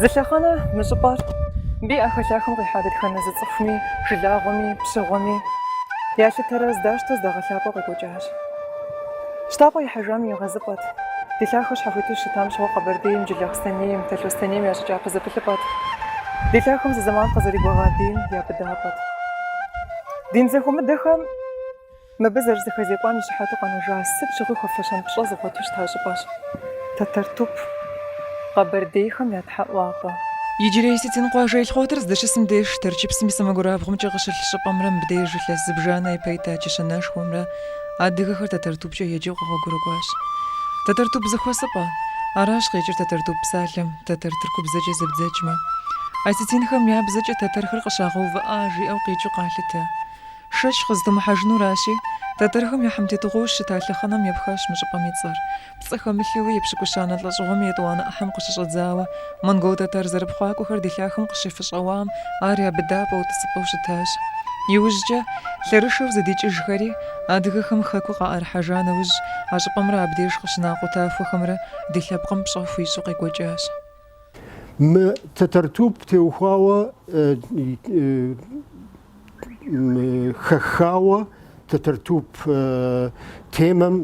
Зы лъэхъэнэ мы щӏыпӏэр абы и ӏэхэлъахэм къихьа дэтхэнэ зы цӏыхуми, жылагъуэми, пщыгъуэми ялъытэрэ здащтэ здагъэлъапӏэу къекӏуэкӏащ. Щтапӏэ ихьэжам и егъэзыпӏэт. Ди лъахэр щхьэхуиту щытам щыгъуэ Къэбэрдейм, Джылахъстэнейм, Талъостэнейм я щӏы кӏапэ зэпылъыпӏэт. Ди лъахэм зы зэман къизэрыгуэгъа бийм я быдапӏэт. Дин зэхуэмыдэхэм. Мыбы зэрызэхэзекӏуам и щыхьэту къэнэжа сыт щыгъуи хуэфэщэн пщӏэ зыгъуэту щыта щӏыпӏэщ Тэтэртуп къэбэрдейхэм я тхьэӏуапӏэ. Иджырей осетин къуажэ Елхъуэтыр здыщысым деж Тэрчыпсым и сэмэгурабгъумкӏэ къыщылъ щӏыпӏэмрэ мыбдеж илъэс зыбжанэ ипэ ита чэщанэшхуэмрэ адыгэхэр Тэтэртупкӏэ еджэу къэгъуэгурыкӏуащ. Тэтэртуп зэхуэсыпӏэ. Аращ къикӏыр Тэтэртуп псалъэм, тэтэр тыркубзэкӏэ зэбдзэкӏмэ. Осетинхэм я бзэкӏэ тэтэрхэр къыщагъэувыӏа жиӏэу къикӏыу къалъытэ. Шэч къызытумыхьэжынуращи, тэтэрхэм я хьэмтетыгъуэу щыта лъэхъэнэм епхащ мы щӏыпӏэм и цӏэр. Пцӏы хэмылъу, епщыкӏущанэ лӏэщӏыгъуэм и етӏуанэ ӏыхьэм къыщыщӏэдзауэ, монгол-тэтар зэрыпхъуакӏуэхэр ди лъахэм къыщифыщӏэуам, ар я быдапӏэу, тӏысыпӏэу щытащ. Иужькӏэ, лъэрышэу зэдикӏыжхэри, адыгэхэм хэкур къаӏэрыхьэжа нэужь, а щӏыпӏэмрэ абдеж къыщына къутахуэхэмрэ ди лъэпкъым пщӏэ хуищӏу къекӏуэкӏащ. Мы тэтэртуп теухуауэ хэхауэ тэтэртуп темэм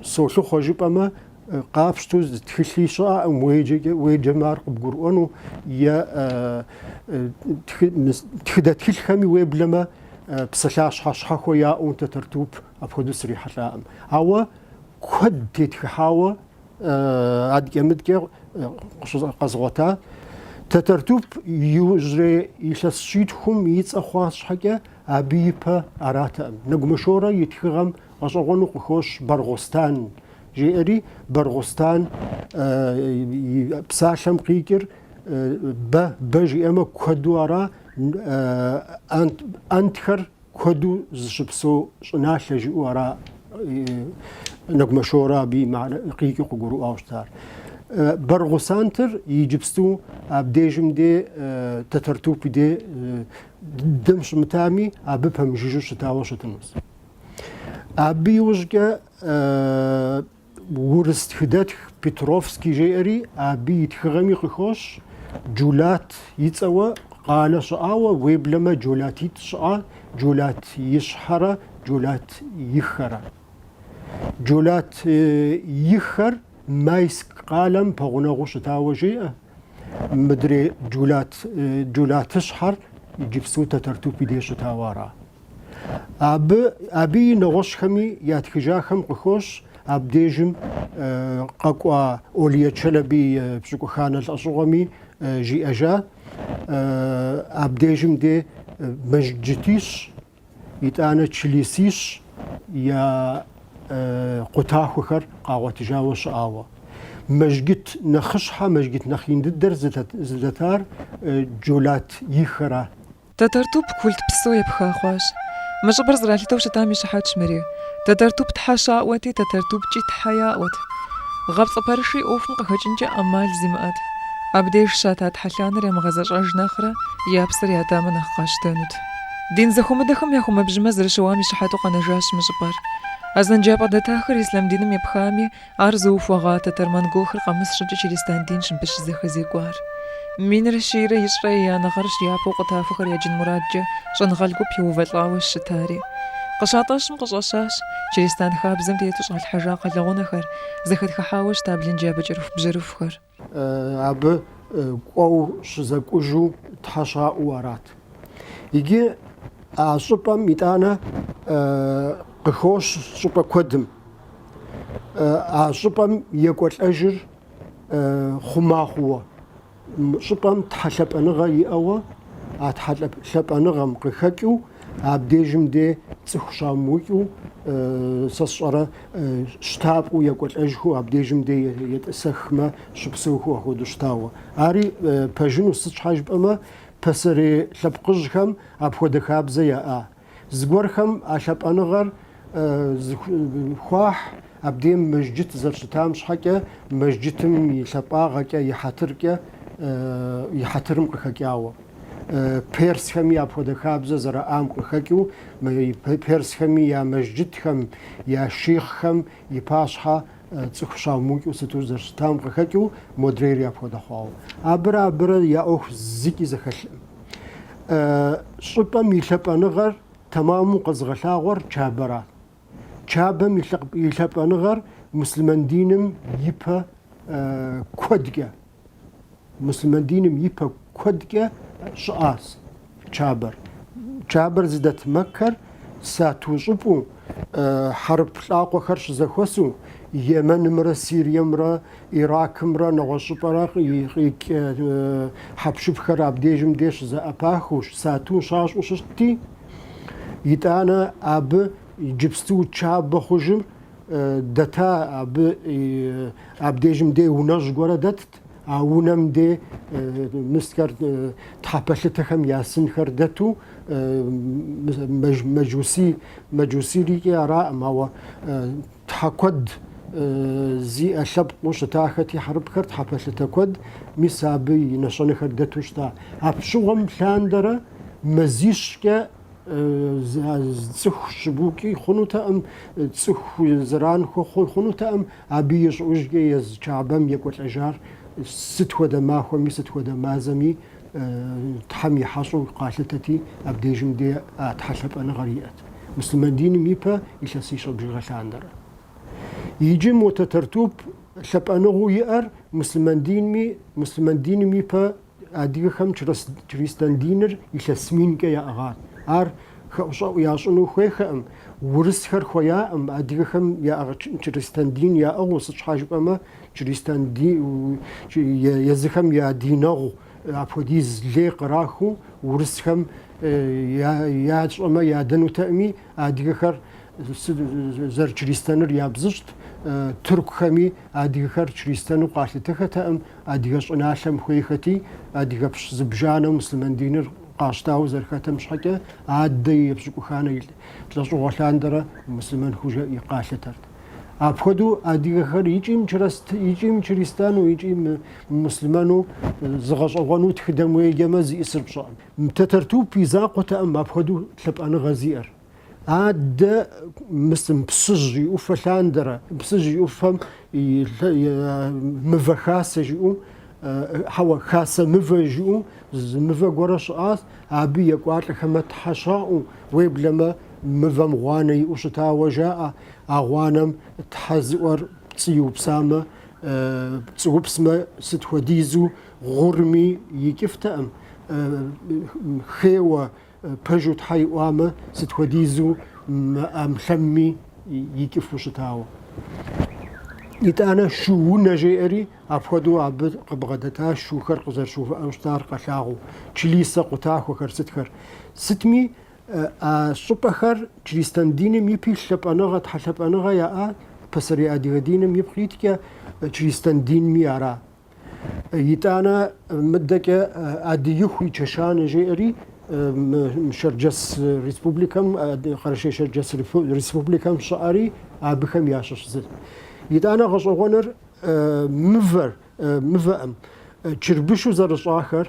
солъыхъуэ жыпӏэмэ, къапщту зы тхылъи щыӏэкъым уеджэмэ ар къыбгурыӏуэну е тхыдэ тхылъхэми уеблэмэ псалъащхьэ щхьэхуэ яӏэу тэтэртуп апхуэдэу срихьэлӏакъым. Ауэ куэд тетхыхьауэ адэкӏэ-мыдэкӏэ къэзгъуэта. Тэтэртуп иужьрей илъэс щитхум и цӏэ хъуа щхьэкӏэ абы ипэ аратэкъым. Нэгумэ Шорэ и тхыгъэм гъэщӏэгъуэну къыхощ Баргъустан жиӏэри, Баргъустан псалъэм къикӏыр бэ, бэ жиӏэмэ куэду ара, антхэр Куэду зыщыпсэу щӏыналъэ жиӏэу ара Нэгумэ Шорэ абы къикӏыу къыгурыӏуауэ щытар. Баргъусантыр иджыпсту абдежым де Татартуп и де дэм щымытами, абы пэмыжыжьэу щытауэ щытынус. Абы иужькӏэ Урыс тхыдэтх Петровский жеӏэри абы и тхыгъэми къыхощ, Джулат и цӏэуэ къалэ щыӏауэ, уеблэмэ Джулатитӏ щыӏа, Джулат ищхьэрэ Джулат ихэрэ. Джулат ихэр Майск къалэм пэгъунэгъуу щытауэ жеӏэ, мыдрей Джулат, Джулат ищхьэр иджыпсту Татартуп и деж щытауэ ара. Абы, абы и нэгъуэщӏхэми ятхыжахэм къыхощ абдежым къэкӏуа Эвлия Челеби пщыкӏуханэ лӏэщӏыгъуэми жиӏэжа абдежым де мэжджытищ, итӏанэ члисищ я къутахуэхэр къагъуэтыжауэ щыӏауэ. Мэжджыт нэхъыщхьэ, мэжджыт нэхъ ин дыдэр зыдэтар Джулат ищхъэра. Тэтэртуп культ псо епха хъуащ. Мы щӏыпӏэр зэралъытэу щытам и щыхьэтщ мыри. Тэтэртуп тхьэ щаӏуэти, Тэтэртупкӏи тхьэ яӏуэт. Гъэпцӏы пэрышри ӏуэхум къыхэкӏынкӏэ ӏэмал зимыӏэт. Абдеж щата тхьэлъанэр ямыгъэзэщӏэж нэхърэ, я псэр ятамэ нэхъ къащтэнут. Дин зэхуэмыдэхэм я хумэбжьымэ зэрыщыуам и щыхьэту къэнэжащ мы щӏыпӏэр. Азэнджапӏэ дэтахэр ислъам диным епхами, Ар зыухуэгъа тэтэр-монголхэр къэмыс щӏыкӏэ чыристан динщ абы щызэхэзекӏуар. Минрэ щийрэ ищӏрэ еянэ гъэрщ япэу къутахуэхэр яджын мурадкӏэ щӏэныгъэлӏ гуп еувэлӏауэ щытари. Къыщатӏэщым къыщӏэщащ чыристан хабзэм тету щӏалъхьэжа кхъэлэгъунэхэр, зэхэтхыхьауэ щыта блынджабэ кӏэрыхубжьэрыхухэр. абы кӏуэу щызэкӏужу Тхьэ щаӏуэу арат. Иджы а щӏыпӏэм итӏанэ къыхощ щӏыпӏэ куэдым. А щӏыпӏэм екӏуэлӏэжыр хъума хъууэ, щӏыпӏэм тхьэлъэпӏэныгъэ иӏэуэ, а тхьэлъэпӏэныгъэм къыхэкӏыу Абдежым де цӏыху щамыукӏыу, сэ сщӏэрэ, щтапӏэу екӏуэлӏэжхэу абдежым де етӏысэхмэ, щыпсэухэу апхуэдэу щытауэ. Ари пэжыну, сыт щхьэ жыпӏэмэ, пасэрей лъэпкъыжьхэм апхуэдэ хабзэ яӏа. Зыгуэрхэм а лъапӏэныгъэр Зыхуахь абдеж мэжджыт зэрыщытам щхьэкӏэ, мэжджытым и лъапӏагъэкӏэ, и хьэтыркӏэ, и хьэтырым къыхэкӏауэ. Персхэми апхуэдэ хабзэ зэраӏам къыхэкӏыу, персхэми я мэжджытхэм, я шихъхэм и пащхьэ цӏыху щыумыукӏыу сыту зэрыщытам къыхэкӏыу, модрейри апхуэдэ хъуауэ. Абырэ абырэ я ӏуэху зыкӏи зэхэлъкъым. Щӏыпӏэм и лъапӏэныгъэр Тэмэму къэзыгъэлъагъуэр Чабэра. Чабэм и лъапӏэныгъэр муслъымэн диным ипэ куэдкӏэ, муслъымэн диным ипэ куэдкӏэ щыӏащ Чабэр. Чабэр зыдэт Мэккэр сату щӏыпӏу хьэрып лӏакъуэхэр щызэхуэсу, Емэнымрэ Сириемрэ Иракымрэ нэгъуэщӏ щӏыпӏэрэ къикӏ хьэпшыпхэр абдежым де щызэӏэпахыу, сату щащӏу щытти, итӏанэ абы иджыпсту чабэ хъужым дэта, абы абдежым де унэжь гуэрэ дэтт, а унэм де мысхэр, тхьэпэлъытэхэм я сынхэр дэту, мэджусийрикӏи араӏым, ауэ Тхьэ куэд зиӏэ лъэпкъыу щытахэти хьэрыпхэр, тхьэ пэлъытэ куэд, мис абы и нэщэнэхэр дэту щыта. Апщыгъуэм лъандэрэ мазищкӏэ цӏыху щыбукӏи хъунутэкъым, цӏыху зэран хуэхъу хъунутэкъым, абы ищӏыужкӏэ езы Чабэм екӏуэлӏэжар сыт хуэдэ махуэми, сыт хуэдэ мазэми, Тхьэм и хьэщӏэу къалъытэти, абдежым де а Тхьэ лъапӏэныгъэр иӏэт. Муслъымэн диным ипэ илъэсищэ бжыгъэ лъандэрэ. Иджы мо Тэтэртуп лъапӏэныгъэу иӏэр муслъымэн динми, муслъымэн диным ипэ адыгэхэм чрыстэн диныр илъэс минкӏэ яӏыгъат. Ар хэӏущӏэӏу ящӏыну хуейхэӏым, урысхэр хуеяӏым, адыгэхэм я чрыстэн дин яӏыгъыу, сыт щхьа жыпӏэмэ, Чристан ди езыхэм я динэгъу апхуэдиз лей кърахыу урысхэм ящӏэмэ ядэнутэкъыми, адыгэхэр зэрычристэныр ябзыщӏт, тыркухэми адыгэхэр чристэну къалъытэхэтэкъым, адыгэ щӏыналъэм хуейхэти, адыгэпщ зыбжанэу муслъымэн диныр къащтауэ зэрыхэтэм щхьэкӏэ, адэ и епщыкӏуханэ лӏэщӏыгъуэ лъандэрэ муслъымэн хъужауэ къалъытэрт. Апхуэдэу адыгэхэр икӏи, икӏи мычристану, икӏи мымуслъымэну зыгъэщӏэгъуэну тхыдэм уеджэмэ зиӏысыр пщӏэкъым. Тэтэртуп и закъуэтэкъым апхуэдэу лъапӏэныгъэ зиӏэр. Адэ мысым Псыжь и ӏуфэ лъандэрэ, Псыжь и ӏуфэм мывэ хасэ жиӏэу Хьэуэ, хасэ мывэ жыӏэу зы мывэ гуэрэ щыӏащ, абы екӏуалӏэхэмэ тхьэ щаӏуэу, уеблэмэ мывэм гъуанэ иӏэу щытауэ жаӏэ, а гъуанэм тхьэ зыӏуэр пцӏы иупсамэ, пцӏыупсмэ сыт хуэдизу гъурми икӏыфтэкъым, хейуэ Пэжу Тхьэ иӏуамэ, сыт хуэдизу мы ӏэмлъэмми икӏыфу щытауэ. Итӏанэ шу унэ жеӏэри, апхуэдэу абы къыбгъэдэта шухэр къызэрыщыувыӏэу щытар къэлъагъуу, члисэ къутахуэхэр сытхэр. Сытми, а щӏыпӏэхэр чристэн диным ипи лъапӏэныгъэ, тхьэлъапӏэныгъэ яӏа, пасэрей адыгэ диным ипкъ иткӏэ чристэн динми ара. Итӏанэ мыдэкӏэ Адыиху и чэщанэ жеӏэри Шэрджэс республикэм, Къэрэшей-Шэрджэс республикэм щыӏэри абыхэм ящыщ зы. Итӏанэ гъэщӏэгъуэныр мывэӏым, чырбышу зэрыщӏахэр,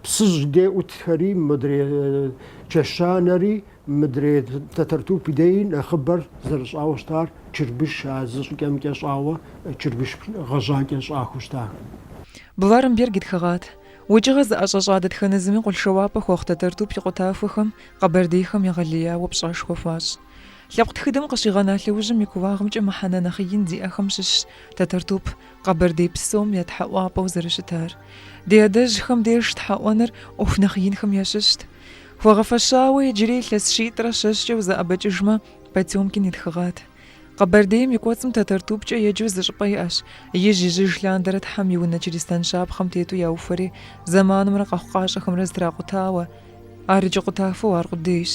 Псыжь де ӏутхэри, модрей чэщанэри, мыдрей Тэтэртуп деи нэхъыбэр зэрыщӏауэ щытар чырбыш, а зы щӏыкӏэмкӏэ щӏауэ чырбыш гъэжьакӏэ щӏахэу щыта. Бларамберг и тхыгъат. Укӏыгъэ зыӏэщӏэщӏа дэтхэнэ зыми къулъшэуапӏэ хуэхъу Тэтэртуп и къутахуэхэм къэбэрдейхэм егъэлеяуэ пщӏэшхуэ хуащӏ. Лъэпкъ тхыдэм къыщигъэна лъэужьым и кууагъымкӏэ мыхьэнэ нэхъ ин зиӏэхэм щыщщ Тэтэртуп, Къэбэрдей псом я тхьэӏуапӏэу зэрыщытар. Ди адэжьхэм деж тхьэӏуэныр ӏуэху нэхъ инхэм ящыщт. Хуэгъэфэщауэ иджыри илъэс щитӏрэ щэщӏкӏэ узэӏэбэкӏыжмэ, Потемкин и тхыгъат. Къэбэрдейм и кӏуэцӏым Тэтэртупкӏэ еджэу зы щӏыпӏэ иӏэщ, ижь-ижьыж лъандэрэ Тхьэм и унэ чыристан щапхъэм тету яухуэри, зэманымрэ къэхъукъащӏэхэмрэ зэтракъутауэ, ар иджы къутахуэу аркъудейщ.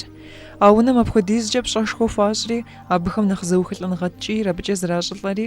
А унэм апхуэдизкӏэ пщӏэшхуэ хуащӏри, абыхэм нэхъ зэухылӏэныгъэ ткӏийр абыкӏэ зэращӏылӏэри,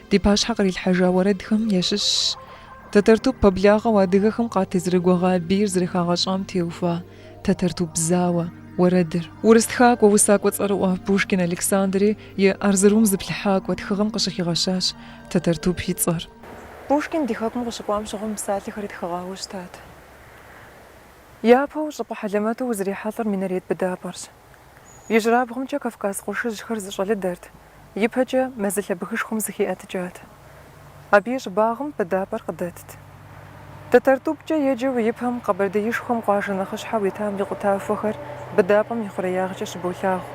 Ди пащхьэ кърилъхьэжа уэрэдхэм ящыщщ Тэтэртуп пэблагъэу адыгэхэм къатезэрыгуэгъа бийр зэрыхагъэщӏам теухуа Тэтэртуп зауэ уэрэдыр. Урыс тхакӏуэ, усакӏуэ цӏэрыӏуэ Пушкин Александри и Арзырум зыплъыхьакӏуэ тхыгъэм къыщыхигъэщащ Тэтэртуп и цӏэр. Пушкин ди хэкум къыщыкӏуам щыгъуэ мы псалъэхэр итхыгъауэ щытат. Япэу щӏыпӏэ хьэлэмэту узрихьэлӏэр минарет быдапӏэрщ. Ижьырабгъумкӏэ Кавказ къуршыжьхэр зыщӏэлыдэрт, ипэкӏэ мэзылъэ бгышхуэм зыхиӏэтыкӏат. Абы и щӏыбагъым быдапӏэр къыдэтт. Тэтэртупкӏэ еджэу ипэм Къэбэрдеишхуэм къуажэ нэхъыщхьэу итам и къутахуэхэр быдапӏэм и хъуреягъкӏэ щыболъагъу.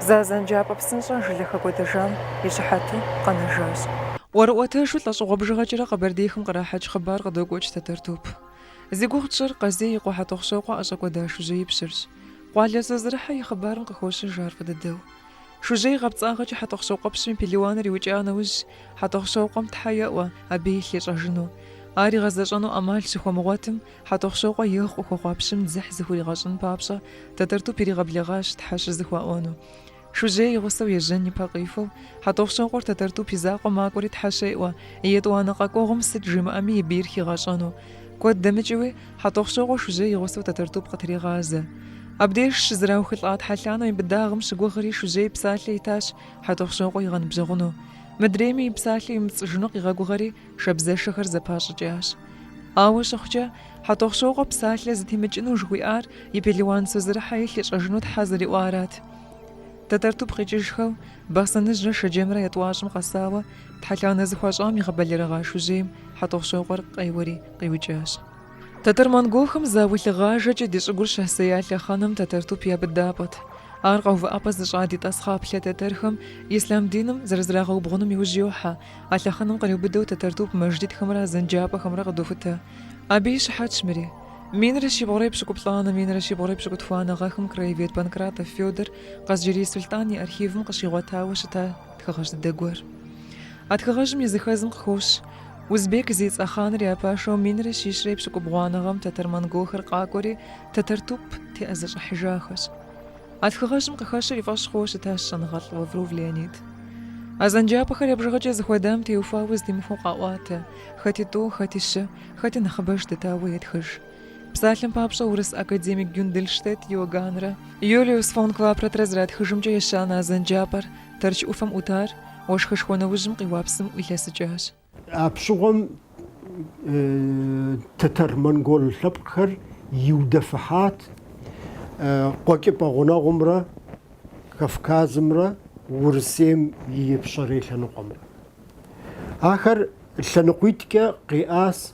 Зы азэнджапӏэ псынщӏэ жылэ хэкӏуэдэжам и щыхьэту къэнэжащ. ӏуэрыӏуэтэжу лӏэщӏыгъуэ бжыгъэкӏэрэ Къэбэрдейхэм кърахьэкӏ хъыбар къыдокӏуэкӏ Тэтэртуп. Зи гугъу тщӏыр Къазий и къуэ Хьэтӏохъущокъуэ ӏэщӏэкӏуэда Шужьей пщырщ. Къуалэ Созырыхьэ и хъыбарым къыхощыж ар фӏы дыдэу. Шужьей гъэпцӏагъэкӏэ Хьэтӏохъущокъуэпщым и пелуаныр иукӏа нэужь Хьэтӏохъущокъуэм Тхьэ еӏуэ абы илъ ищӏэжыну. Ар игъэзэщӏэну ӏэмал щыхуэмыгъуэтым, Хьэтӏохъущокъуэ егъу къыхуэхъуа пщым дзыхь зыхуригъэщӏын папщӏэ, Тэтэртуп иригъэблэгъащ Тхьэ щызэхуаӏуэну. Шужьей и гъусэу ежьэн ипэ къихуэу, Хьэтӏохъущокъуэр Тэтэртуп и закъуэ макӏуэри Тхьэ щеӏуэ, и етӏуанэ къэкӏуэгъуэм сыт жимыӏэми и бийр хигъэщӏэну. Куэд дэмыкӏыуи, Хьэтӏохъущокъуэ Шужьей и гъусэу Тэтэртуп къытригъазэ. Абдеж щызэраухылӏа тхьэлъанэу и быдагъым щыгугъри Шужьей псалъэ итащ Хьэтӏохъущокъуэ игъэныбжьэгъуну. Мыдрейми и псалъэ емыпцӏыжыну къигъэгугъэри, Шабзэшэхэр зэпащӏыкӏащ. Ауэ щыхъукӏэ, Хьэтӏохъущокъуэ псалъэ зытемыкӏыну жыхуиӏар и пелуан Созэрыхьэ илъ ищӏэжыну Тхьэ зэриӏуарат. Тэтэртуп къикӏыжхэу, Бахъсэныжьрэ Шэджэмрэ я тӏуащӏэм къэсауэ, тхьэлъанэ зыхуащӏам игъэбэлэрыгъа Шужьейм Хьэтӏохъущокъуэр къеуэри къиукӏащ. Тэтэр-монголхэм зауэ лъыгъажэкӏэ ди щӏыгур щасея лъэхъэнэм Тэтэртуп я быдапӏэт. Ар къэувыӏэпӏэ зыщӏа ди тӏасхъаплъэ тэтэрхэм ислъам диным зэрызрагъэубгъуным иужь йохьэ, А лъэхъэнэм къриубыдэу Тэтэртуп мэжджытхэмрэ азэнджапӏэхэмрэ къыдохутэ. Абы и щыхьэтщ мыри. Минрэ щибгъурэ епщыкӏуплӏанэ, минрэ щибгъурэ епщыкӏутхуанэ гъэхэм краевед Панкратов Федор Къазджэрей сулътӏан и архивым къыщигъуэтауэ щыта тхыгъэжь дыдэ гуэр. А тхыгъэжьым и зыхэзым къыхощ Узбек зи цӏэ хъаныр я пашэу минрэ щищрэ епщыкӏубгъуанэ гъэм тэтэр-монголхэр къакӏуэри Тэтэртуп теӏэзэщӏыхьыжахэщ. А тхыгъэжьым къыхэщыр и фӏэщ хъууэ щытащ щӏэныгъэлӏ Лавров Леонид. Азэнджапӏэхэр я бжыгъэкӏэ зыхуэдам теухуауэ зэдимыхуэу къаӏуатэ, хэти тӏу, хэти щы, хэти нэхъыбэж дэтауэ етхыж. Псалъэм папщӏэ, урыс академик Гюндельштедт Иоганнрэ Юлиус фон Клапротрэ зэратхыжымкӏэ ещанэ азэнджапӏэр Тэрч ӏуфэм ӏутар, уэшхышхуэ нэужьым къиуа псым ӏуилъэсыкӏащ. Апщыгъуэм тэтэр-монгол лъэпкъхэр иудэфыхьат Къуэкӏыпӏэ гъунэгъумрэ Кавказымрэ Урысейм и Ипщэрей лъэныкъуэмрэ. Ахэр лъэныкъуитӏкӏэ къиӏас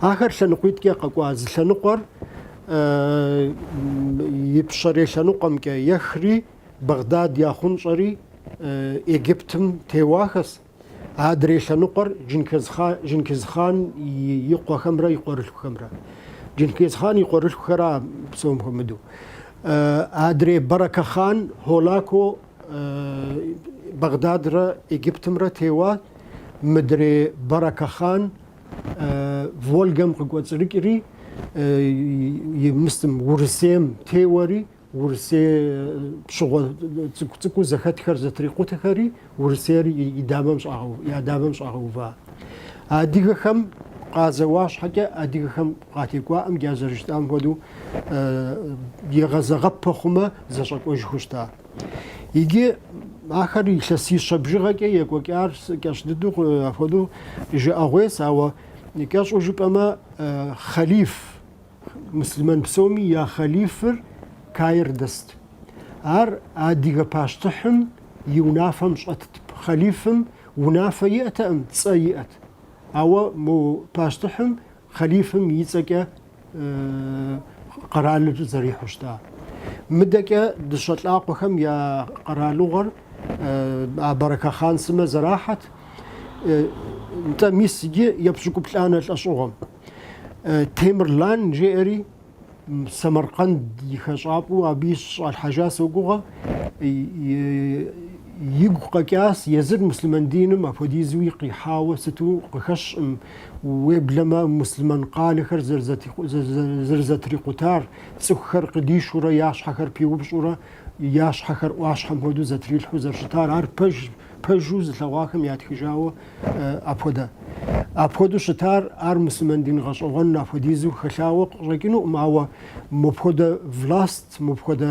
Ахэр лъэныкъуитӏкӏэ къэкӏуа зы лъэныкъуэр ипщэрей лъэныкъуэмкӏэ ехри, Багдад яхъунщӏэри Египтым теуахэс. Адрей лъэныкъуэр Джынкизхъан и къуэхэмрэ и къуэрылъхухэмрэ. Джынкизхъан и къуэрылъхухэра псом хуэмыдэу. Адрей Баракахъан, Холако. Бэгъдадрэ Египтымрэ теуа, мыдрей Барака хъан Волгэм къыкӏуэцӏрыкӏри, Мыст Урысейм теуэри, Урысей пщыгъуэ цӏыкӏу-цӏыкӏуу зэхэтхэр зэтрикъутэхэри Урысейр и дамэм щӏагъэу, я дамэм щӏагъэува. Адыгэхэм къазэуа щхьэкӏэ, адыгэхэм Къатекӏуаӏэм джа зэрыщытам хуэдэу егъэзыгъэпэ хъумэ, зэщӏэкӏуэжхэу щыта. Иджы ахэр илъэсищэ бжыгъэкӏэ екӏуэкӏар кӏэщӏ дыдэу апхуэдэу жыӏэгъуейс, ауэ кӏэщӏу жыпӏэмэ, хъэлиф, муслъымэн псоми я хъэлифыр Каир дэст. Ар адыгэ пащтыхьым и унафэм щӏэтт. Хъэлифым унафэ иӏэтэкъым, цӏэ иӏэт. Ауэ мо пащтыхьым Хъалифым и цӏэкӏэ къэралыр зэрихьу щыта. Мыдэкӏэ дыщэ лӏакъуэхэм я къэралыгъуэр а Барэка хъан сымэ зэрахьэт, нтӏэ, мис иджы епщӏыкӏуплӏанэ лӏэщӏыгъуэм. Темырлан жеӏэри Самаркъэнд и хэщӏапӏэу абы щыщӏалъхьэжа согугъэ. Игу къэкӏащ езыр муслъымэн диным апхуэдизуи къихьауэ сыту къыхэщкъым, уеблэмэ муслъымэн къалэхэр зэрызэтрикъутар, цӏыхухэр къыдишурэ я щхьэхэр пиупщӏурэ, я щхьэхэр ӏуащхьэм хуэдэу зэтрилъхьэу зэрыщытар. Ар пэж. пэжу зылъэгъуахэм ятхыжауэ апхуэдэ. Апхуэдэу щытар ар муслъымэн дин гъэщӏэгъуэн апхуэдизу хэлъауэ къыщӏэкӏынукъым, ауэ мыпхуэдэ власт, мыпхуэдэ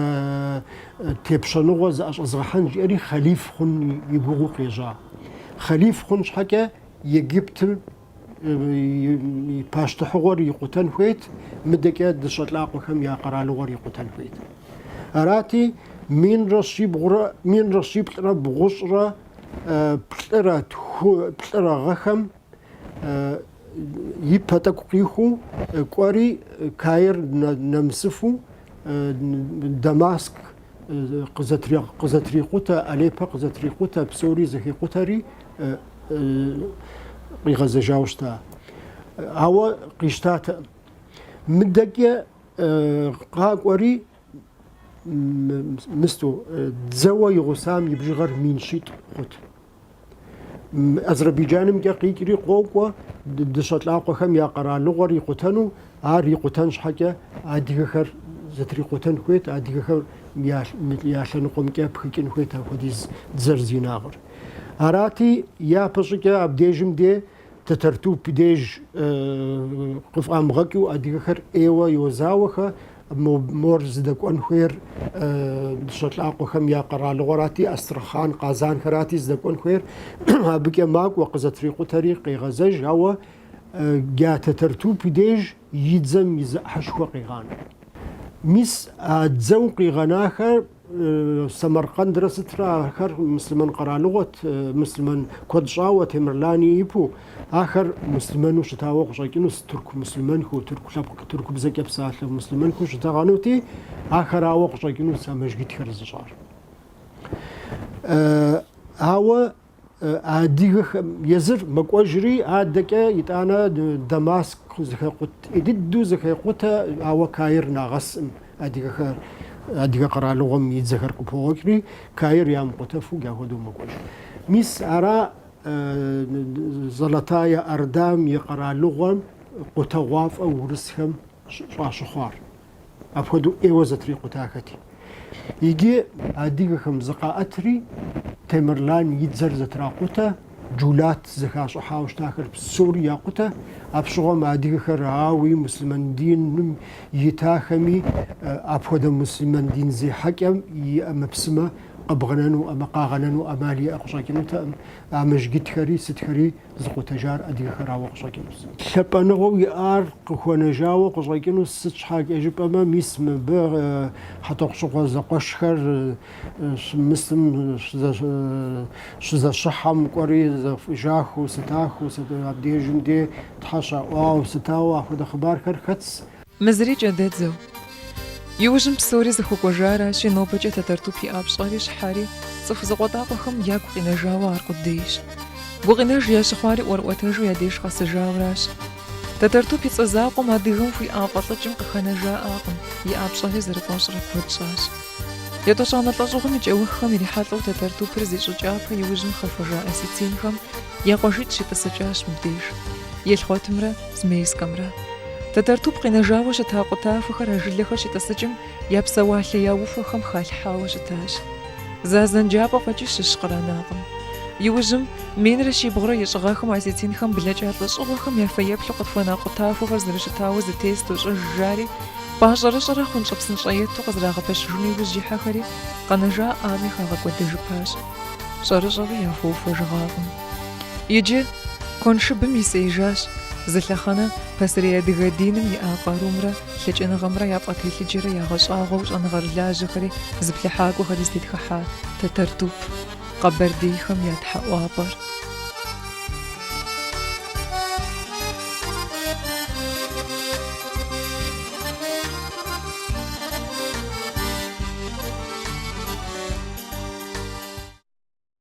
тепщэныгъуэ зыӏэщӏэзгъэхьэн жиӏэри хъэлиф хъун и гугъу къежьа. Хъэлиф хъун щхьэкӏэ Египтым и пащтыхьыгъуэр икъутэн хуейт, мыдэкӏэ дыщэ лӏакъуэхэм я къэралыгъуэр икъутэн хуейт. Арати, минрэ щибгъурэ, минрэ щиплӏрэ бгъущӏрэ плӏырэ тху, плӏырэ гъэхэм и пэ тӏэкӏу къиху кӏуэри, Каир нэмысыфу Дамаск къызэтрикъутэ, Алеппэ къызэтрикъутэ, псори зэхикъутэри къигъэзэжауэ щыта. Ауэ къищтатэкъым. Мыдэкӏэ къакӏуэри мысту дзэуэ и гъусам и бжыгъэр мин щитӏ хъут. Азербайджанымкӏэ къикӏри къокӏуэ дыщэ лӏакъуэхэм я къэралыгъуэр икъутэну, ар икъутэн щхьэкӏэ адыгэхэр зэтрикъутэн хуейт, адыгэхэр я лъэныкъуэмкӏэ пхыкӏын хуейт апхуэдиз дзэр зи инагъыр. Арати, япэщӏыкӏэ абдежым де Тэтэртуп деж къыфӏамыгъэкӏыу адыгэхэр ӏейуэ йозауэхэ, мор зыдэкӏуэн хуейр дыщэ лӏакъуэхэм я къэралыгъуэрати, Астрахъан, Къазанхэрати зыдэкӏуэн хуейр. Абыкӏэ макӏуэ къызэтрикъутэри къегъэзэж, ауэ дя Тэтэртуп деж и дзэм и зы ӏыхьышхуэ къигъанэ. Мис а дзэу къигъэнахэр Сэмэркъэндрэ сытрэ ахэр муслъымэн къэралыгъуэт, муслъымэн куэд щӏауэ Темырлани ипу. Ахэр муслъымэну щытауэ къыщӏэкӏынущ тырку муслъымэнхэу, тырку лъэпкъ, тырку бзэкӏэ псалъэ муслъымэнхэу щытэгъэнути, ахэрауэ къыщӏэкӏынущ а мэжгитхэр зыщӏар. Ауэ А адыгэхэм езыр мэкӏуэжри, адэкӏэ итӏанэ Дамаск зэхекъутэ, ӏей дыдэу зэхекъутэ, ауэ Каир нагъэсӏым адыгэхэр, адыгэ къэралыгъуэм и дзэхэр къыпогъуэкӏри, Каир ямыкъутэфу ахуэдэу мэкӏуэж. Мис ара Золотая Ордам и къэралыгъуэм къутэгъуафӏэ урысхэм щӏащыхъуар? апхуэдэу ӏейуэ зэтрикъутахэти. Иджы адыгэхэм зыкъаӏэтри, Темырлан и дзэр зэтракъутэ, Джулат зэхащӏыхьауэ щытахэр псори якъутэ. Апщыгъуэм адыгэхэр, ауи, муслъымэн диным итахэми, апхуэдэ муслъымэн дин зехьэкӏэм и ӏэмэпсымэ къыбгъэнэну, ӏэмэ къагъэнэну ӏэмал иӏэ къыщӏэкӏынутэкъым. А мэжджытхэри сытхэри зыкъутэжар адыгэхэрауэ къыщӏэкӏыну сыт? Лъапӏэныгъэу иӏар къыхуэнэжауэ къыщӏэкӏынус, сыт щхьэкӏэ жыпӏэмэ, мис мыбы Хьэтӏохъущыкъуэ зэкъуэшхэр щымысым, щызэщыхьэм кӏуэри зэфӏыжахэу сытахэу сыт, абдежым де Тхьэ щаӏуауэ сытауэ, ахуэдэ хъыбархэр хэтс. Мы зыри кӏэдэдзэу. Иужьым псори зыхуэкӏуэжаращи, нобэкӏэ Тэтэртуп иӏа пщӏэри щхьэри, цӏыху зыкъуэтӏакъуэхэм ягу къинэжауэ аркъудейщ. Гукъинэж ящыхъуари ӏуэрыӏуэтэжу я деж къэсыжауращ. Тэтэртуп и цӏэ закъуэм адыгэм хуиӏа фӏэлӏыкӏым къыхэнэжаӏакъым, иӏа пщӏэри зэрыкӏуэщӏрэ куэд щӏащ. Етӏощӏанэ лӏэщӏыгъуэм и кӏэуххэм ирихьэлӏэу Тэтэртупыр зи щӏы кӏапэ иужьым хэхуэжа осетинхэм я къуажитӏ щитӏысыкӏащ мыбдеж. Елхъуэтымрэ. Змейскэмрэ. Тэтэртуп къинэжауэ щыта къутахуэхэр а жылэхэр щитӏысыкӏым я псэуалъэ я ухуэхэм халъхьауэ щытащ. Зы азэн джапӏэ фӏэкӏи щыщ къранакъым. Иужьым, минрэ щибгъурэ ищӏ гъэхэм осетинхэм блэкӏа лӏэщӏыгъуэхэм я фэеплъу къытхуэна къутахуэхэр зэрыщытауэ зэтес дощӏыж жари, пӏащӏэрыщӏэрэ хъунщӏэпсынщӏэ ету къызэрагъэпэщыжыну иужь ихьэхэри, къэнэжаӏами хагъэкӏуэдэжыпащ. Щӏэрыщӏэуи яхуэухуэжыгъакъым. Иджы куэншыбым исеижащ зы лъэхъэнэ пасэрей адыгэ диным иӏа къарумрэ лъэкӏыныгъэмрэ яфӏэтелъыджэрэ ягъэщӏагъуэу щӏэныгъэрылажьэхэри зыплъыхьакӏуэхэри зытетхыхьа Тэтэртуп къэбэрдейхэм я тхьэӏуапӏэр.